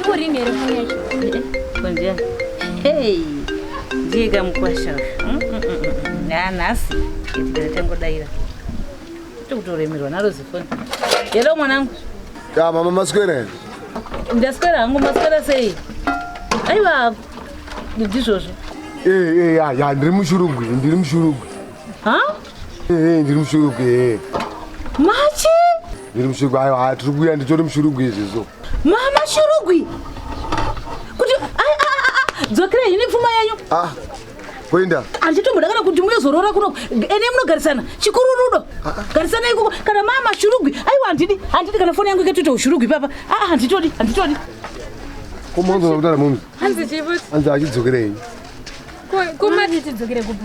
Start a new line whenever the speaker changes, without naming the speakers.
Ikurimi here foni
yacho? Konzia. Hey. Ndiye kamukwasha. Mm, mm, mm, ah, nhasi. Itikere tangodaira. Tikutoremerwa naro zifoni. Hello mwanangu. Ya mama
maswera here? Ndaswera
hangu maswera sei? Aiwa ndizvozvo. Eh eh
ya ya ndiri mushurugwi, ndiri mushurugwi. Ha?
Ehe ndiri
mushurugwi ehe. Machi?
Ndiri
mushurugwi ayo haa tiri kuuya nditori mushurugwi izvizvo. Mama shurugwi.
Kuti ai a a a dzokera hini pfuma yenyu. Ah. Kuenda.
Anditomboda kana kuti
muyozorora kuno ene munogarisana chikururudo. Garisana ikoko kana mama shurugwi. Aiwa handidi handidi kana foni yangu ikatoita ushurugwi papa. Ah ah, handitodi handitodi.
Ko mwanzo unakutara mumzi. Hanzi chipo Hanzi
achidzokerei. kuma tichidzokere kupi.